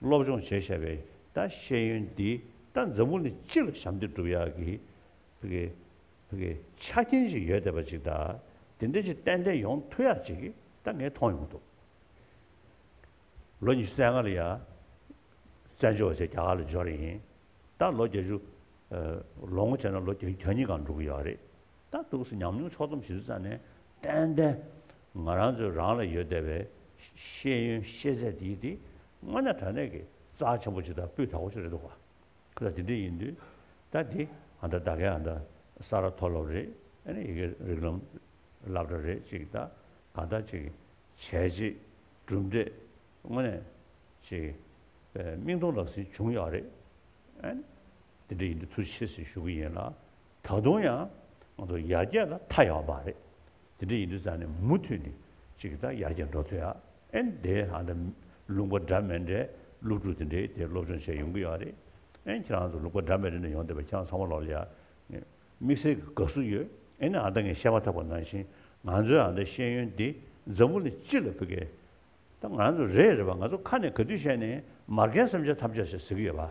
སློབ་སྦྱོང་བྱས་བྱས་པའི་ད་ཤེས་ཡོན་འདི་ད་འཛམ་བུ་ནས་སྤྱི་ལ་ཞབས་འདེགས་སྒྲུབ་ཡག་གི་ཆ་རྐྱེན་ཅིག་ཡོད་བསྡད་པ་ཅིག་ད་དེ་འདྲ་ཅིག་ཏན་ཏན་ཡོང་ཐུ་ཡག་ཅིག་ད་ངས་མཐོང་ཡོང་འདུག་ལོ་ཉི་ཤུ་རྩ་ལྔ་ལ་ཡ་བཙན་བྱོལ་བ་བྱས་རྒྱ་གར་ལ་འབྱོར་ཡིན་ད་ལོ་བརྒྱད་ཅུ་ལོ་ངོ་བྱས་ན་ལོ་གྱ་གཉིས་གང་འགྲོ་གི་ཡོད་རེད། ད་ཐུགས་སུ་ཉམས་མྱོང་ཕྱོགས་བསྡོམས་ཞིབ་བསྲེས་ཙམ་ནས་བསྟན་ཏེ། ང་རང་ཚོའི་རང་ལ་ཡོད་བསྡད་པའི་ཤེས་ཡོན་ཤེས་ཚད་དེ་ཡིས་དེ་སྔོན་ན་དྲ་གནས་ཀྱི་རྩ་ཆེན་པོ་ཅིག་དང་སྤུས་དག་པོ་ཅིག་རེད་འདུག་ག་ད་དེ་འདྲ་ཡིན་དུས་ད་དེ་ཨ་མདའ་ད་གའི་ཨ་མདའ་ས་ར་མཐོ་སློབ་རེད་ཨ་ནི་ཡི་གེ་རིགས་ལམ་བསླབ་གྲྭ་རེད་ཅིག་ད་གང་ལྟར་ཅིག་བྱས་རྗེས་གྲུབ་འབྲས་དངོས་གནས་ཅིག་སྨིན་གཏོང་ལག་ཟིན་བྱུང་ཡག་རེད་ཨ་ནི་དེ་འདྲ་ཡིན་དུས་ཐུགས་རྗེ་ཆེ་ཞེས་ཞུ་གི་ཡིན་ལགས། ད་དུང་ཡང་ང་ཚོ་ཡར་རྒྱས་ལ་མཐའ་ཡས་པ་རེད། དེ་འདྲ་ཡིན་དུས་ཙང་ནས་མུ་མཐུད་ནས་ཅིག་གི་ད་ཡར་རྒྱས་འགྲོ་ཐུབ་ཡ་ཨེ་འདི་ཧ་ད་ལུང་པ་འདྲ་མེད་འདྲའི་སློབ་ཕྲུག་དེ་འདྲའི་དེ་སློབ་སྦྱོང་བྱས་ཡོང་གི་ཡོད་རེད་ཨེ་ཁྱེད་རང་ཚོ་ལུང་པ་འདྲ་མེད་འདྲ་ནས་ཡོང་འདོད་པ་ཁྱེད་རང་ཚང་མ་ལོག་ལ་ཡ་དམིགས་བསལ་གི་དགའ་བསུ་ཡོད་ཨེ་ནས་ཨ་ད་ངས་བཤད་མ་ཐག་པ་ནང་བཞིན་ང་ཚོའི་ཨ་ད་ཤེས་ཡོན་འདི་འཛམ་བུ་ལ་ཅི་ལ་ཕུལ་གི་ད་ང་ཚོ་རེད་རེད་པ་ང་ཚོ་ཁ་ནས་ག་དུས་བཤད་ནས་མར་ཁའི་སེམས་ཆ་ཐམས་ཅད་ཟེར་ཟེར་གི་ཡོད་པ་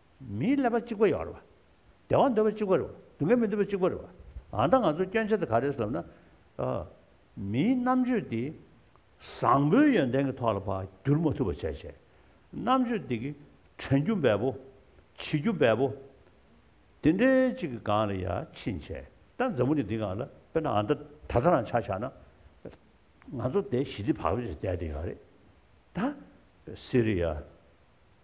མིའི་ཀླད་པ་གཅིག་པ་ཡོད་རེད་བ། བདེ་བ་འདོད་པ་གཅིག་པ་རེད་བ། སྡུག་བསྔལ་མི་འདོད་པ་གཅིག་པ་རེད་བ། ད་ལྟ་ང་ཚོའི་སྐྱོན་ཆ་དེ་ག་རེད་ཟེར་ན། མིའི་རྣམ་དཔྱོད་འདི་བཟང་པོའི་ཡོན་ཏན་གྱི་ཐོག་ལ་འཕགས་འགྱུར་མ་ཐུབ་པ་བྱས་བྱས། རྣམ་དཔྱོད་འདི་གི་དྲན་རྒྱུ་འབའ་པོ། བྱེད་རྒྱུ་འབའ་པོ། དེ་འདྲའི་ཅིག་གི་སྒང་ལ་ཡར་ཕྱིན་བྱས། ད་འཛམ་བུ་གླིང་འདི་སྒང་ལ་དཔེར་ན་ཨ་མདོ་ད་ལྟ་རང་ཆགས་ཆགས་ན། ང་ཚོ་དེ་ཞི་བདེ་བག་ཕེབས་སུ་བསྡད་དེ་ཡོད་རེད། ད། སི་རི་ཡ།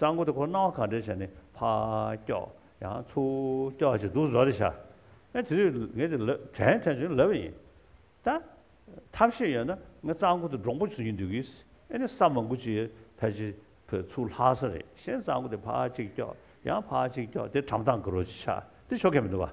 རྩ་འགོ་དེ་ཁོ་སྣང་བ་གང་དྲན་བྱ་ནི་ཕ་སྐྱོག་ཡང་ཚུ་སྐྱོག་ཅིག་འདུག་བཟོ་རེ་བྱ། ཨེ་དེ་དུས་ངས་དེ་ལོས་དྲན་དྲན་བྱུང་ལབ་པ་ཡིན། ད་ཐབས་ཤེས་ཡོད་ན་ངས་རྩ་འགོ་དེ་འབྲོང་པོ་བྱུང་གི་འདུག་གིས་ཨེ་ནས་ས་མ་འགུལ་ཅིག་ཕལ་ཆེར་བོད་ཚུར་ལྷག་ས་རེད་ཤེས་རྩ་འགོ་དེ་ཕ་གཅིག་སྐྱོག་ཡང་ཕ་གཅིག་སྐྱོག་དེ་གྲམ་ཐང་གི་རོ་གཅིག་ཆགས་དེ་ཆོ་གས་མི་འདུག་བ།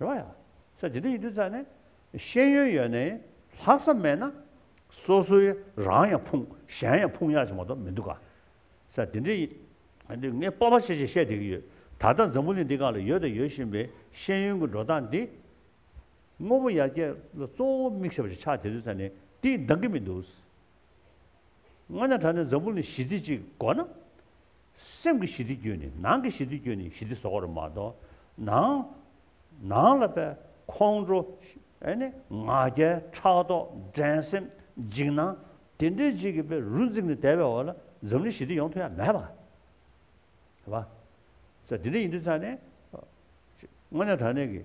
རེད་བ་ཡ། ས་ཇི་འདྲ་ཡིན་དུས་ཙང་ནས་ཤེས་ཡོན་ཡོད་ནའི་ལྷག་བསམ་མེད་ན། སོ་སོའི་རང་ཡང་ཕུང་གཞན་ཡང་ཕུང་ཡག་ཅིག་མ་གཏོགས་མི་འདུག་ག། ས་དེ་འདྲ་ཡིན། འདི་ངས་སྤོབས་པ་ཆེ་ཆེ་བཤད་བསྡད་ཀྱི་ཡོད། ད་ལྟ་འཛམ་བུ་གླིང་འདི་ག་ལ་ཡོད་དང་ཡོད་བཞིན་པའི་ཤེས་ཡོན་གྱི་འགྲོ་སྟངས་འདི། དངོས་པོ་ཡར་རྒྱས་ལ་གཙོ་བོ་དམིགས་བྱ་བ་ཞིག་ཆགས་བསྡད་དུས་ཙང་ནས་དེ་འདང་གི་མི་འདུག། སྔོན་ན་ད་ནས་འཛམ་བུ་གླིང་ཞི་བདེ་ཅིག་དགོས་ན། སེམས་ཀྱི་ཞི་བདེ་བསྐྱོད་ནི་ནང་གི་ཞི་བདེ་བསྐྱོད་ནི་ཞི་བདེ་བཟོ་བར་མ་གཏོགས་ནང། ནང་ལ་པའི་ཁོང་ཁྲོ། ཨེ་ནི་ང་རྒྱལ་ཕྲག་དོག་འགྲན་སེམས་འཇིགས་སྣང། དེ་འདྲའི་རྗེས་ཀྱི་པའི་རུ་འཛིངས་ནས་དལ་བའི་འོག་ལ་འཛམ་གླིང་ཞི་བདེ་ཡོང་ཐུབ་ཡ་མེད་པ། ཨེ་བ། ས་དེ་འདྲ་ཡིན་དུས་ཚར་ནས། དངོས་གནས་དར་ནས་ཀྱི།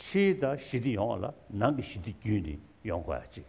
ཕྱིའི་དང་ཞི་བདེ་ཡོང་བ་ལ་ནང་གི་ཞི་བདེ་བསྐྱོད་ནི་ཡོང་དགོས་ཡ་གཅིག།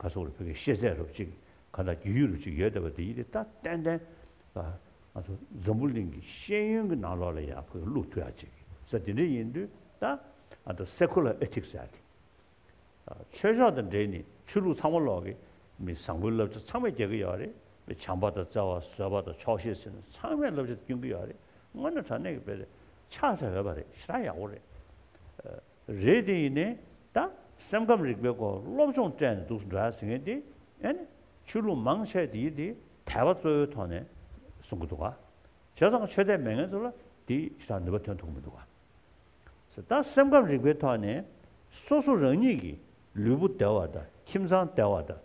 ག་སོགས་ལ་བོད་ཀྱི་ཤེས་ཚད་རུ་གཅིག་ག་དང་རྒྱུས་ཡོད་རུ་གཅིག་ཡོད་བསྡད་པ་འདི་ཡིད་ལྟ་ཏན་ཏན་ལ། ང་ཚོ་འཛམ་བུ་གླིང་གི་ཤེས་ཡོན་གྱི་ནང་ལོགས་ལ་ཡང་བོད་ཀྱི་ལུགས་ཐུགས་ཡག་ཅིག་ས་འདི་འདྲ་ཡིན་དུས་ད་ཨ་ད Secular Ethics ཟེར་ཏེ། ཆོས་ཕྱོགས་དང་འབྲེལ་ནས་ཆོས་ལུགས་ཚང་མ་ལོག་གི་མི་བཟང་པོའི་བསླབ་བྱ་ཚང་མ་རྒྱག་གི་ཡོད་རེད་དཔེ་བྱམས་པ་དང་བརྩེ་བ་བཟོད་པ་དང་ཆོག་ཤེས་ཟེར་ནས་ཚང་མས་བསླབ་བྱ་དེ་སྐྱོན་གྱི་ཡོད་རེད་དངོས་གནས་དྲ་གནས་ཀྱི་དཔེ་རེད་ཆགས་ཚར་ཡོད་པ་རེད་ཞེ་དྲག་ཡག་པོ་རེད། རེད་དེ་ཡིན་ནས་ད་སེམས་ཁམས་རིག་པའི་སྐོར་སློབ་སྦྱོང་སྤྲད་ནས་འདུག་འདྲ་ཟེར་མཁན་དེ་ཨེ་ནས་ཆོས་ལུགས་མང་ཆེ་དེ་ཡིན་དེ་དད་པ་གཙོ་བོའི་ཐོག་ནས་གསུང་གི་འདུག་བྱས་ཙང་ཆོས་དད་མེད་མཁན་ཚོ་ལ་དེ་ཅི་ཐག་ནུས་པ་ཐོན་ཐུག་མི་འདུག་ཟེར་ད་སེམས་ཁམས་རིག་པའི་ཐོག་ནས་སོ་སོ་རང་ཉིད་ཀྱི་ལུས་པོ་དལ་བ་དང་ཁྱིམ་ཚང་དལ་བ་དང་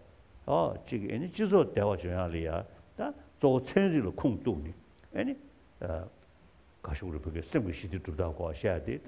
ཨོ་གཅིག་ཨེ་ནས་སྤྱི་ཚོགས་དལ་བ་བྱོན་ཡག་ལེ་ཡ་ད་གཙོ་བོ་ཚན་རིག་ལ་ཁུངས་གཏུགས་ནས་ཨེ་ནས་ཨ་ག་ཤུག་རིན་པོ་ཆེ་སེམས་ཀྱི་ཞི་བདེ་གྲུབ་ཐབས་སྐོར་བཤད་དེ་ད་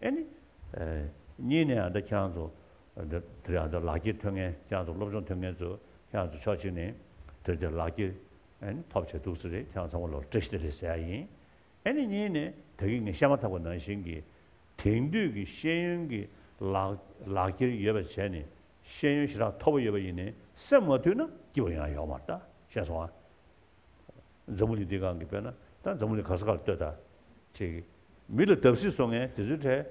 ཨེ་ནི། གཉིས་ནས་ཨ་འདྲ་ཁྱང་ཚོ། དེར་ཨ་འདྲ་ལག་འཁྱེར་ཐོན་མཁན་ཁྱང་ཚོ་སློབ་སྦྱོང་ཐོན་མཁན་ཚོ་ཁྱང་ཚོ་ཕྱོགས་གཅིག་ནས་དེར་དེར་ལག་འཁྱེར། ཨེ་ནི། ཐོབ་བྱས་འདུག་ཚོད་རེད་ཁྱང་ཚང་མ་ལོར་བཀྲ་ཤིས་བདེ་ལེགས་ཟེར་ཡ་ཡིན། ཨེ་ནི་གཉིས་ནས་ད་གིན་ངས་བཤད་མ་ཐག་པ་ནང་བཞིན་གྱི། དེང་དུས་ཀྱི་ཤེས་ཡོན་གྱི་ལག་འཁྱེར་ཡོད་པ་བྱས་ནས་ཤེས་ཡོན་ཞེ་དྲག་མཐོ་པོ་ཡོད་པ་ཡིན་ནས་སེམས་མ་འཐུས་ན་སྐྱིད་པོ་ཡང་ཡོང་མ་ད་བཤད་སོང་ཨ། འཛམ་བུ་ལི་འདི་གང་གིས་སྤོས་ན་ད་འཛམ་བུ་ལི་ག་ས་ག་ལ་ལྟོས་ད། ཅེས་གི། མི་ལ་བརྡབ་གསིག་བཟོ་མཁན་དེ་ཚོའི་གྲས།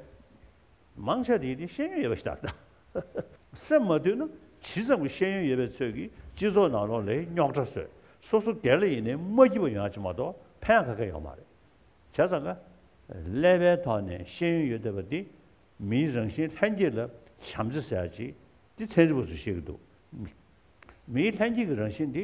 མང་ཆ་དེ་དེ་ཤེས་ཡོན་ཡོད་པ་ཞིག་ད། སེམས་མ་བཏུལ་ན་ཇི་ཙམ་གྱི་ཤེས་ཡོན་ཡོད་པའི་ཚོད་ཀྱིས་སྤྱི་ཚོགས་ནང་ལོག་ལེའི་རྙོག་དྲ་བཟོས་སོ་སོ་དེ་ལ་ཡེ་ནས་མ་སྐྱིད་པ་ཡོང་ཆེད་མ་གཏོགས་ཕན་ག་གེ་ཡོང་མ་རེད། བྱས་ཙང་ཀ། ཀླད་པའི་ཐོག་ནས་ཤེས་ཡོན་ཡོད་བསྡད་པ་འདི་མིའི་རང་བཞིན་ལྷན་སྐྱེས་ལ་བྱམས་བརྩེ་ཟེར་ཡ་ཅིག་འདི་ཚན་རིག་པ་ཚོས་བཤད་ཀྱི་འདུག་མིའི་ལྷན་སྐྱེས་ཀྱི་རང་བཞིན་འདི།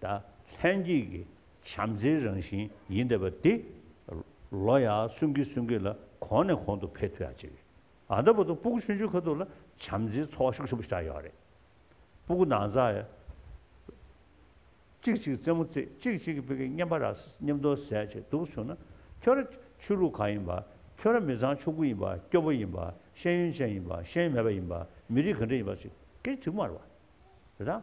ད་ལྷན་སྐྱེས་ཀྱི་བྱམས་བརྩེའི་རང་བཞིན་ཡིན་བསྡད་པ་དེ། ལོ་ཡག་གསོན་གྱིས་གསོན་གྱིས་ལ་གོང་ནས་གོང་དུ་འཕེལ་ཐུབ་ཡག་ཅིག་རེད། ཨ་ད་པོ་ཏོ་སྤུ་གུ་ཆུང་ཆུང་ཁ་ཐུག་ལ་བྱམས་བརྩེའི་ཚོར་བ་ཤུགས་ཆེན་པོ་ཆགས་ཡོད་རེད། སྤུ་གུ་ནང་ཚ། ཅིག་ཅིག་རྩེད་མོ་རྩེད་ཅིག་ཅིག་གིས་བོད་ཀྱི་སྙན་པ་རག་སྙན་མདོ་ཟས་བྱེད་སྡུག་བྱུང་ན་ཁྱོད་ར་ཆོས་ལུགས་གང་ཡིན་པ་ཁྱོད་ར་མི་ཚང་ཕྱུག་པོ་ཡིན་པ་སྐྱོ་པོ་ཡིན་པ་ཤེས་ཡོན་ཅན་ཡིན་པ་ཤེས་ཡོན་མེད་པ་ཡིན་པ་མི་རིགས་གང་འདྲ་ཡིན་པ་ཅིག་གིས་གྲིབ་མར་བ་རེད་དཱ།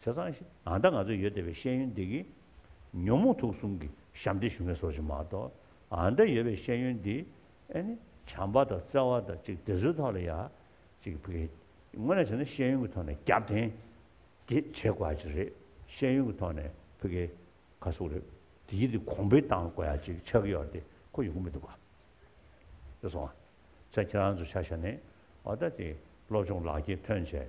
བྱས་ཙང་ཞིག་ཨང་ད་ང་ཚོ་ཡོད་བསྡད་པའི་ཤེས་ཡོན་འདི་གིས། ཉོན་མོངས་དུག་གསུམ་གྱི་ཞབས་འདེགས་ཞུ་མཁན་སོགས་ཞིག་མ་གཏོགས་ཨང་ད་ཡོད་པའི་ཤེས་ཡོན་འདིས། ཨེ་ནི། བྱམས་པ་དང་བརྩེ་བ་དང་གཅིག་དེ་ཚོའི་ཐོག་ལ་ཡ། གཅིག་ཕི་གེ། དངོས་ནས་བྱས་ན་ཤེས་ཡོན་གྱི་ཐོག་ནས་རྒྱབ་བརྟེན། དེ་བྱེད་དགོས་ཡ་ཅིག་རེད། ཤེས་ཡོན་གྱི་ཐོག་ནས་ཕི་གེ། ཁ་སུག་རེད། དེ་ཡི་དེ་གོང་འཕེལ་བཏང་དགོས་ཡ་ཅིག་ཆགས་ཀྱི་ཡོད་དེ་ཁོ་ཡོང་གི་མི་འདུག་ག། ཡོད་སོང་ཨ། ཚེ་ཁྱེད་རང་ཚོ་ཆ་ཤ་ནས། ཨོ་ད་དེ་སློབ་སྦྱོང་ལག་ཁྱེར་ཐོན་བྱས།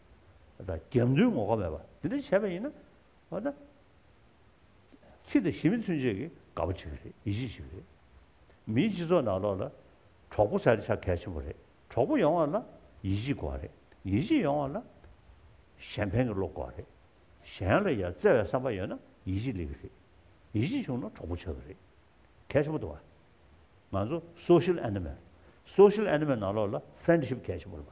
དང། རྒྱབ་མདུན་ངོ་ཁ་མེད་པ་འདི་འདྲ་བྱས་པ་ཡིན་ན། ཨོ་ད། ཚིག་དང་ཞི་མི་མཚོན་བྱེད་ཀྱི་དགའ་པོ་བྱེད་ཀྱི་རེད་ཡིད་ཆེས་བྱེད་ཀྱི་རེད། མིའི་སྤྱི་ཚོགས་ནང་ལོགས་ལ། གྲོགས་པོ་བྱ་དེ་ཆ་གལ་ཆེན་པོ་རེད་གྲོགས་པོ་ཡོང་བ་ལ་ཡིད་ཆེས་དགོས་བ་རེད་ཡིད་ཆེས་ཡོང་བ་ལ། གཞན་ཕན་གྱི་བློ་དགོས་བ་རེད། གཞན་ལ་ཡར་བརྩེ་བའི་བསམ་པ་ཡོད་ན་ཡིད་ཆེས་ལེགས་ཀྱི་རེད། ཡིད་ཆེས་བྱུང་ན་གྲོགས་པོ་ཆགས་ཀྱི་རེད། གལ་ཆེན་པོ་འདུག་བ། ང་ཚོ Social Animal། Social Animal ནང་ལོགས་ལ Friendship གལ་ཆེན་པོ་རེད་བ།